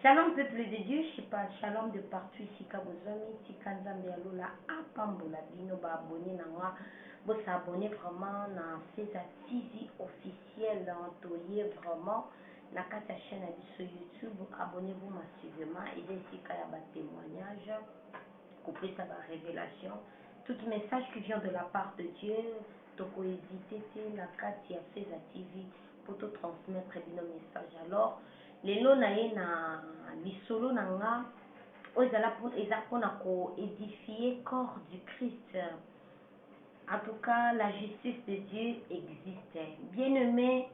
Shalom peuple de Dieu chez pa Shalom de partout esika bozwami tika Nzambe ya lola apambola bino ba abonne na nga bo s'abonner vraiment na Cesar TV officiel toye vraiment na kati ya chaine ya biso YouTube abonne vous massivement eza esika ya ba temoignage kopesa ba revelation tout message qui vient de la part de Dieu toko hesiter te na kati ya Cesar TV po to transmettre bino message alors lelo na ye na lisolo na nga oyo ezala eza pona ko edifie corps du christ en tout cas la justice de Dieu existe bien aime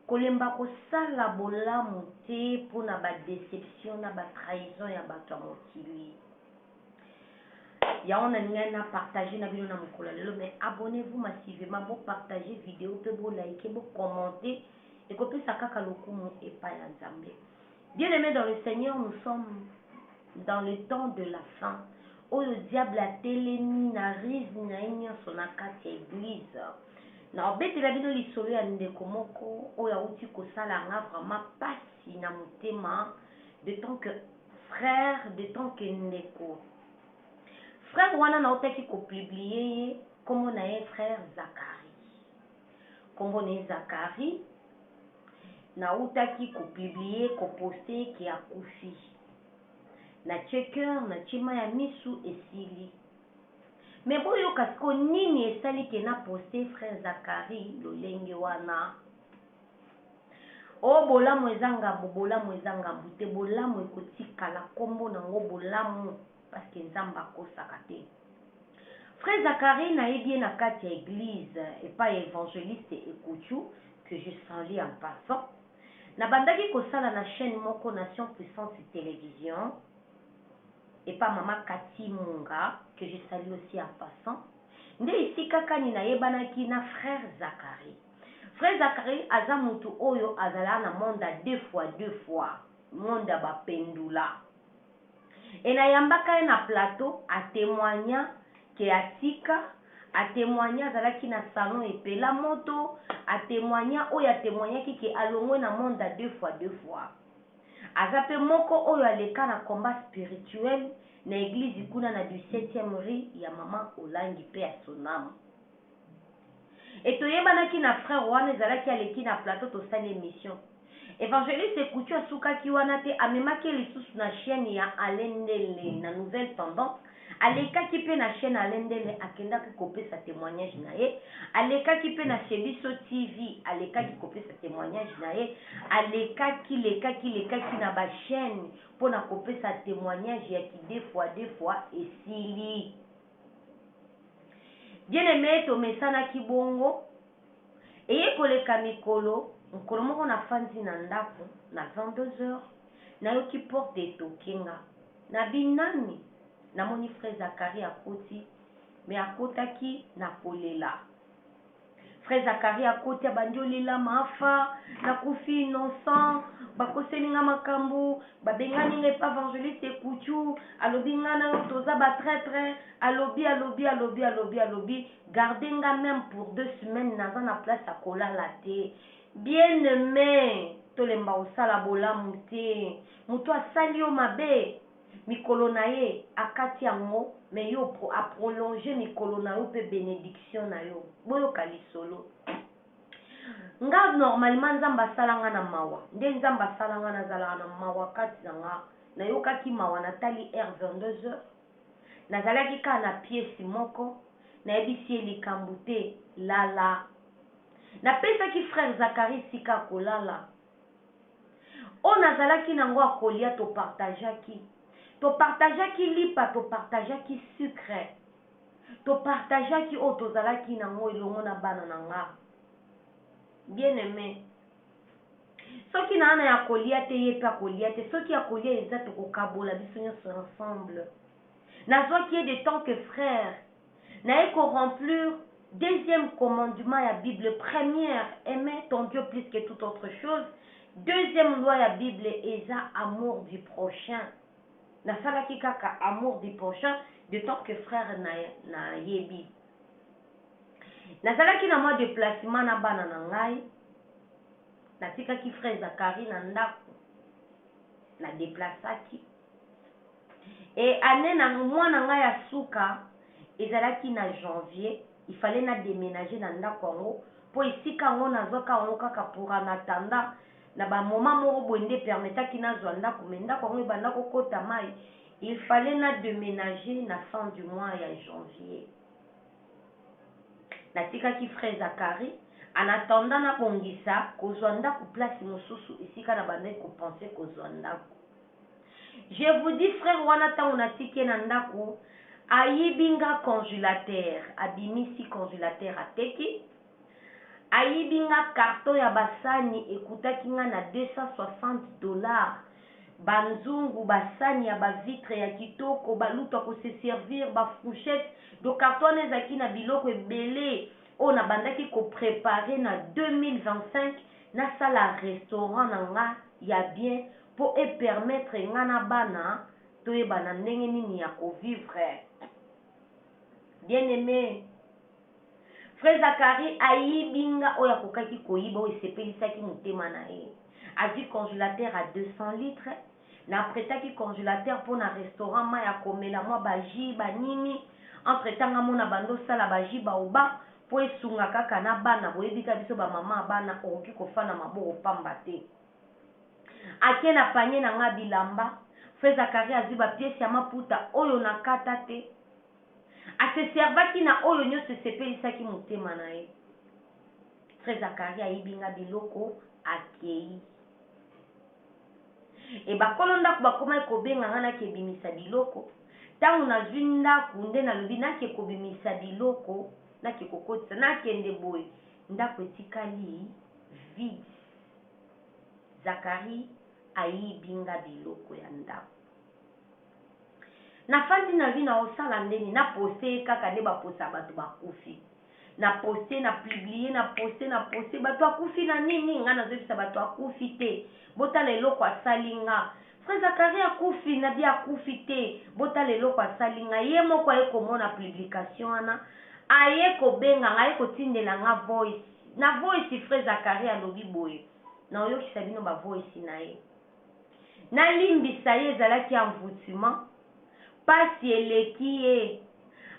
kolemba kosala bolamu te pona ba deception na ba trahison ya batu ya mokili Yango na lingaki na partage na bino na mokolo ya lelo mais abonnez vous massivement bo partage video pe bo like bo commente eko pesa kaka lokumu epa ya Nzambe. Bien aime dans le Seigneur nous sommes dans le temps de la fin oyo diable atelemi na ruse na ye nyonso na kati ya eglise na obetela bino lisolo ya ndeko moko oyo awuti kosala nga vraiment pasi na motema de temps que Frère de ton que ndeko. Frère wana nautaki ko publier ye kombo na ye frère Zacharie kombo na ye Zacharie nautaki ko publier ko poste ye ke akufi natie coeur natie mayi ya misu esili mais boyoka sikoyo nini esali ke na poste frère Zacharie lolenge wana Oh bolamu eza ngambo bolamu eza ngambo te bolamu ekotikala kombo na ngo bolamu parce que nzambe akosaka te frère Zacharie nayebi ye na kati ya eglise epai ya evangeliste Ekutshu que je salue en passant nabandaki kosala na chaine moko nation puissante television epa mama Cathy Munga que je salue aussi en passant nde esika kani nayebanaki na frère Zacharie Vrai Zacharie aza mutu oyo azala na monde ya deux fois deux fois monde ya ba pendula et na yambaka ye na plateau a temoigna que atika a temoigna azalaki na salon epela moto a temoigna oyo a temoignaki que alongwe na monde ya deux fois deux fois aza pe moko oyo aleka na combat spirituel na eglise kuna na du septieme rue ya maman olangi paix à son ame. Et toyebanaki na frère wana ezalaki aleki na plateau tosali emission. Evangeliste Kutu asukaki wana te amemaki ye lisusu na chaine ya Alain Ndele na nouvelle tendance. Alekaki pe na chaine Alain Ndele akendaki kopesa temoignage na ye. Alekaki pe na chez biso TV alekaki kopesa temoignage na ye. Alekaki lekaki lekaki na ba chaine pona kopesa temoignage ya ki deux fois deux fois esili. Bien-aime, tomesanaki bongo. Eye koleka mikolo, mokolo moko nafandi na ndako, na 22 heures, nayoki porte etoque nga. Nabi, Nani? Namoni frère Zacharie akoti, mais akotaki na kolela. Frère Zacharie akoti abandi olela maafa nakufi innocent bakoseli nga makambu babengani nga epa evangeliste kuchu alobi nga na yo toza ba traitre alobi alobi alobi alobi alobi garde nga meme pour deux semaines naza na place ya kolala te bien aime tolemba kosala bolamu te mutu asali yo mabe Mikolo na ye akati yango mais yo a prolonger mikolo na yo pe benediction na yo. Boyoka lisolo. Nga normalement Nzambe asala nga na mawa. Nde Nzambe asala nga nazalaka na mawa kati na nga. Nayokaki mawa natali heure 22 heures. Nazalaki kaka na piece moko. Nayebisi ye likambu te lala. Napesaki frère Zacharie esika akolala. Oyo nazalaki na ngo ya kolia to partageaki. To partageaki lipa, to partageaki sucre. To partageaki oyo tozalaki na ngo elongo na bana na nga. Bien aime, soki naa na ya kolia te, ye pe akolia te. Soki ya kolia eza, tokokabola biso nionso ensemble. Nazwaki ye de tant que frère. Naye ko remplure deuxième commandement ya bible première aime ton Dieu plus que toute autre chose deuxième loi ya bible eza amour du prochain nasalaki kaka amour du prochain de temps que frère na nayebi nazalaki na mwa deplacement na bana na ngai natikaki frère Zacharie na ndaku na deplaçaki Et annee na mwana nga ya suka ezalaki na janvier, il fallait na demenager na ndaku yango po esika yango nazwaka yango kaka pour en attendant na ba moment moko boye nde e permettaki nazwa ndaku mais ndaku yango ebanda ko kota mayi il fallait na demenager na fin du mois ya janvier. Natikaki frais Zacharie en attendant na bongisa kozwa ndaku place mosusu esika na bandaki ko penser kozwa ndaku. Je vous dis frère wana tango natiki ye na ndaku ayibi nga conjulateur abimisi conjulateur ateki ayibi nga carton ya ba sani ekutaki nga na 260 dollars ba nzungu ba sani ya ba vitre ya kitoko ba lutu ya ko se servir ba frouchette donc carton wana ezalaki na biloko ebele oyo na bandaki ko preparer na 2025 nasala restaurant na nga ya bien po e permettre nga na bana toyebana ndenge nini ya ko vivre bien aime Frère Zacharie ayibi nga oyo akokaki koyiba oyo esepelisaki motema na ye azui congelateur a 200 litres na pretaki congelateur po na restaurant mayi ya komela mwa ba jus ba nini entre temps nga mona banda osala ba jus baobab po esunga kaka na bana boyebi ka biso ba maman ya bana okoki kofanda maboko pamba te. Ake na panier na nga bilamba Frère Zacharie azui ba pièces ya maputa oyo na kata te. A se servaki na oyo nionso esepelisaki motema na ye. Frère Zacharie ayibi nga biloko akeyi. Et bakolo ndaku bakomaki kobenga nga nake bimisa biloko. Tango nazui ndaku nde nalobi nake kobimisa biloko nake kokotisa. Nakende boye ndaku etikali vide. Zacharie ayibi nga biloko ya ndaku na fandi na vie nao sala nde nini na poste ye kaka nde ba posa ya batu ba kufi na poste na publie na poste na poste batu akufi na nini nga nazo yebisa batu akufi te botala eloko asali nga frère Zacharie akufi na bien akufi te botala eloko asali nga ye moko aye komona publication wana aye kobenga nga aye kotindela nga voice Na voice frère Zacharie alobi boye na oyokisa bino ba voice na ye na limbisa ye ezalaki envoutement pasi eleki ye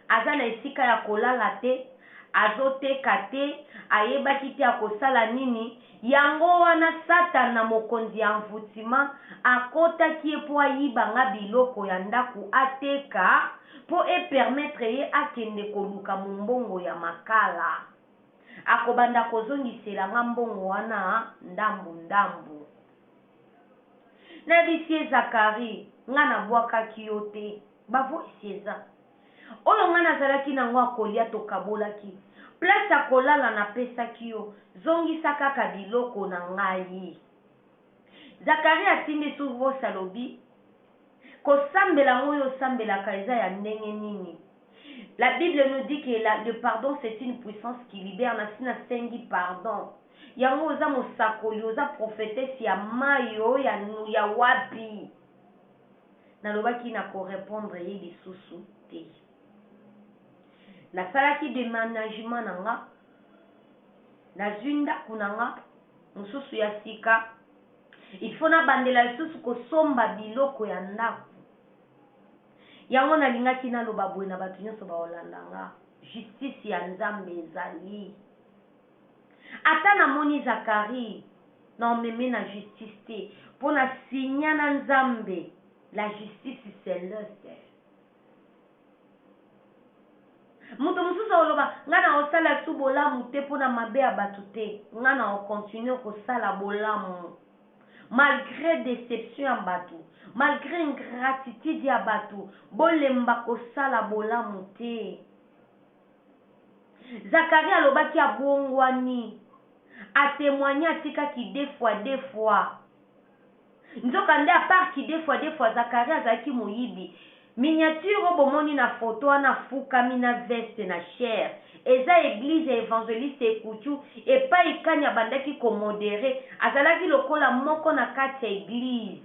aza na esika ya kolala te azo teka te ayebaki te akosala nini yango wana satana mokonzi ya envoutement akotaki ye po ayiba nga biloko ya ndaku ateka po e permettre ye akende koluka mombongo ya makala. Akobanda kozongisela nga mbongo wana ndambu ndambu. Na bisi ye Zacharie nga na bwakaki yo te ba voice eza. Oyo nga na zalaki na ngo ya kolia to kabolaki. Place ya kolala na pesaki yo zongisa kaka biloko na ngai. Zacharie atindi sur Ross alobi kosambela yango oyo osambelaka eza ya ndenge nini la bible nous dit que la le pardon c'est une puissance qui libère na si na sengi pardon yango oza mosakoli oza prophetesse ya mayo ya ya wapi nalobaki na ko repondre ye lisusu te nasalaki demenagement na nga nazui ndaku na nga Mosusu ya sika, il faut nabandela lisusu kosomba biloko ya ndaku. Yango nalingaki naloba boye na batu nionso baolanda nga, justice ya Nzambe ezali. Ata namoni Zacharie, naomeme na justice te, po na signa na Nzambe, la justice celeste. Moto mosusu akoloba, Ngai nakosala lisusu bolamu te mpo na mabe ya bato te. Ngai nakokontinue kosala bolamu malgre deception ya bato, malgre ingratitude ya bato. Bolemba kosala bolamu te. Zacharie alobaki abongwani, a temoigner atikaki de fois, de fois. Nzoka nde à part kidefua defua Zacharie azalaki moyibi miniature oyo bomoni na photo wana afukami na veste na chair eza eglise ya evangeliste ekutshu epayi kani abandaki ko modere azalaki lokola moko na kati ya eglise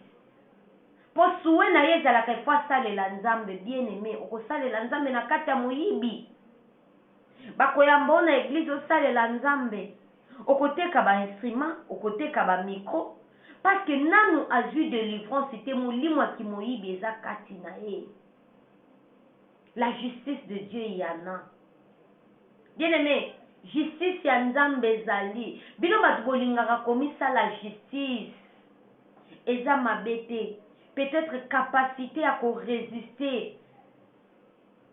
po souhait naye ezalaka il faut asalela nzambe bien aime okosalela nzambe na kati ya moyibi bakoyamba yo na eglise osalela nzambe Okoteka ba instruments, okoteka ba micro parce que nanu azui delivrance te molimo ya kimoyibi eza kati naye. La justice de Dieu il y'en a bien aime justice ya nzambe ezali bino batu bolingaka komisala justice eza mabe te peut etre capacite ya ko resister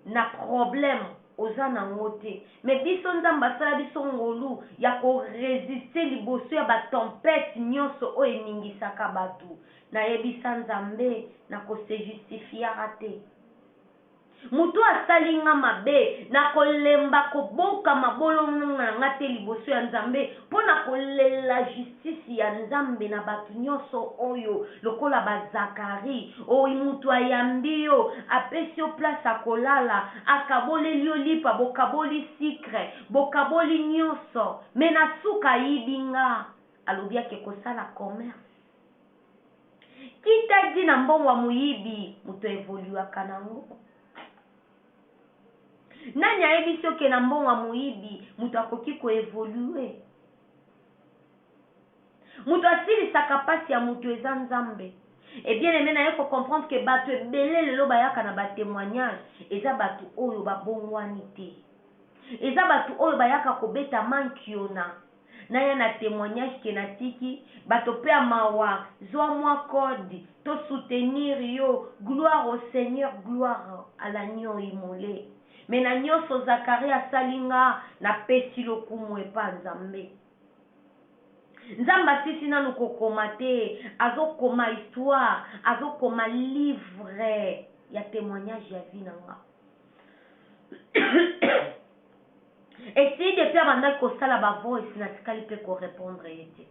na problème oza na ngo te mais biso nzambe asala biso ngolu ya ko resister liboso ya ba tempete nionso oyo eningisaka batu na yebisa nzambe na ko se justifiaka te mutu oyo asali nga mabe na ko lemba ko boka mabolongo na nga te liboso ya nzambe pona ko lela justice Justice ya nzambe na batu nionso oyo lokola ba Zacharie oyo mutu ayambi yo apesi yo place ya kolala akaboleli yo lipa bokaboli sucre bokaboli nionso mais na suka ayibi nga alobi ake kosala commerce qui ta dit na mbongo ya moyibi mutu a evoluaka na ngo? Nani ayebisi yo ke na mbongo ya moyibi mutu akoki ko evoluer? Mutu asilisaka pasi ya mutu eza nzambe et bien aime naye ko comprendre que batu ebele lelo bayaka na ba temoignage eza batu oyo ba bongwani te eza batu oyo bayaka kobeta mankiona naya na temoignage que natiki bato pe ya mawa zua mua code to soutenir yo gloire au seigneur gloire à l'agneau immole Mais na nionso Zacharie asali nga na pesi lokumu epa Nzambe. Nzambe asilisi nanu ko koma te, azo koma histoire, azo koma livre ya temoignage ya vie na nga. Esi depuis abandaki kosala ba voice natikali pe ko repondre ye te.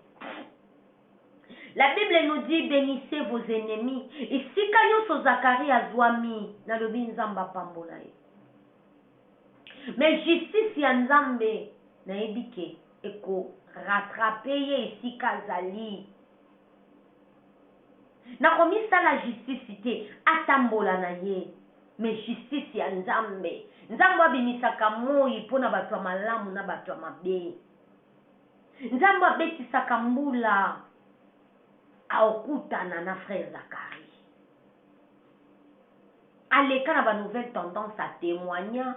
La bible nous dit benissez vos ennemis esika nionso Zacharie azuami nalobi nzambe apambola ye mais justice ya nzambe nayebi ke eko rattraper ye esika azali nakomisala justice te atambola na ye mais justice ya nzambe nzambe abimisaka moyi pona batu ya malamu na batu ya mabe Nzambe abetisaka mbula aokutana na frère Zacharie aleka na ba nouvelle tendance a temoigna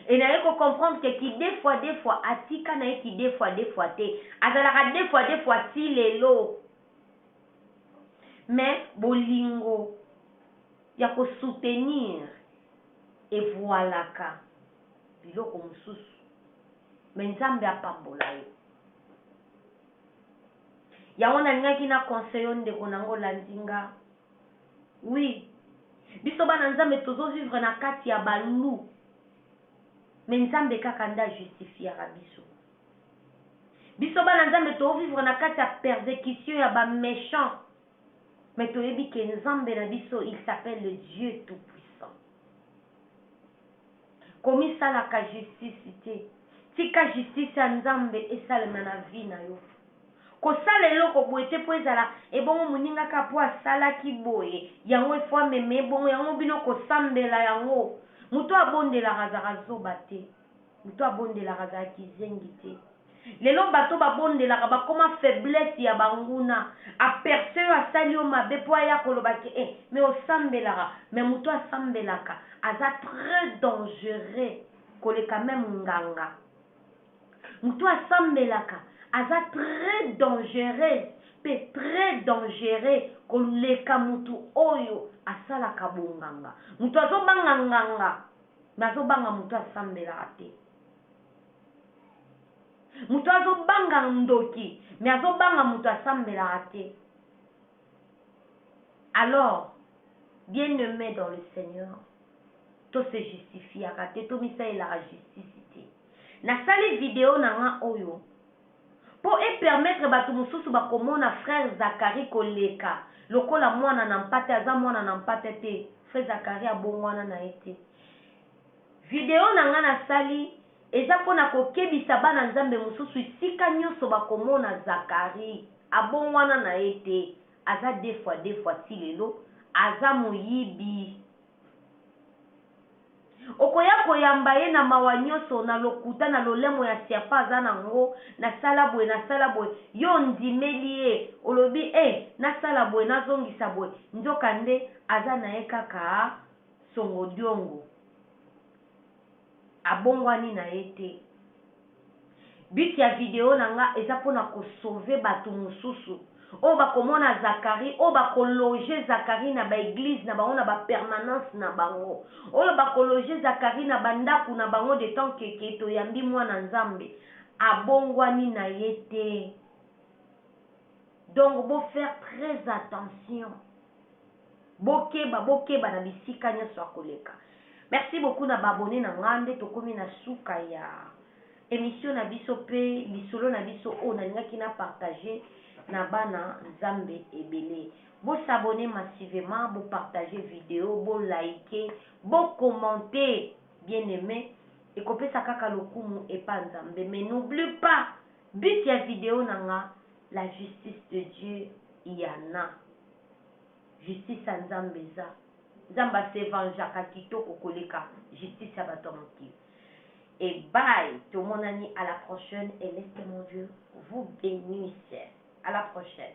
et naye ko comprendre que ki deux fois deux fois atika naye ki deux fois deux fois te azalaka deux fois deux fois ti lelo mais bolingo ya ko soutenir evualaka biloko mususu mais nzambe apambola yo yango nalingaki na conseil yo ndeko na ngo olandi nga oui biso bana nzambe tozo vivre na kati ya ba loup mais nzambe kaka nde ajustifiaka biso biso bana nzambe tovivre na kati ya persécution ya ba méchant mais toyebi ke nzambe na biso il s'appelle le dieu tout puissant komisalaka justice te tika justice ya nzambe esalema na vie na yo kosala eloko boye te po ezala ebongo muninga kaka po asalaki boye yango il faut amema ebongo yango bino kosambela yango mutu abondelaka azalaka zoba te mutu abondelaka azalaka kizengi te Lelo bato ba bondelaka bakoma faiblesse ya ba nguna, a perce yo asali yo mabe po aya koloba ke eh mais osambelaka, mais mutu asambelaka aza très dangereux koleka meme nganga, mutu asambelaka aza très dangereuse pe très dangereux koleka mutu oyo asalaka bonganga, mutu azobanga nganga mais azobanga mutu asambelaka te. mutu azo banga ndoki mais azo banga mutu asambelaka te alors bien aimé dans le seigneur to se justifiaka te tomisalelaka justice te nasali video na nga oyo mpo epermettre bato mosusu bakomona frère zakari koleka lokola mwana na mpate aza mwana na mpate te frère zakari abongwana na ye te Video na nga na sali eza pona ko kebisa bana nzambe mususu esika nioso ba ko mona zacharie abongwana na ye te aza defua defua ti lelo aza moyibi oko ya ko yamba ye na mawa nioso na lokuta na lolemo ya serpent aza na ngo na sala boye na sala boye yo ondimeli ye olobi eh na sala boye na zongisa boye nzoka nde aza na ye kaka Songo Diongo abongwani na ye te. But ya video na nga eza pona ko sauver batu mususu oyo bako mona Zacharie, oyo bako loger Zacharie na ba eglises na bango na ba permanences na bango, oyo bako loger Zacharie na ba ndaku na bango de temps que que to yambi mwana Nzambe abongwani na ye te. Donc bo faire très attention Bokeba bokeba na bisika nionso ya koleka. Merci beaucoup na ba abonnes na nga nde tokomi na suka ya emission na biso pe lisolo na biso oyo nalingaki na partager na bana nzambe ebele. Bo s'abonner massivement, bo partager video, bo liker, bo commenter bien aime ekopesa kaka lokumu epa nzambe mais n'oublie pas but ya video na nga la justice de Dieu y'en a. Justice ya nzambe eza. Nzambe a se vengeaka kitoko koleka justice ya batu ya mokili. Et bye tomonani à la prochaine et laisse que mon Dieu vous benisse à la prochaine.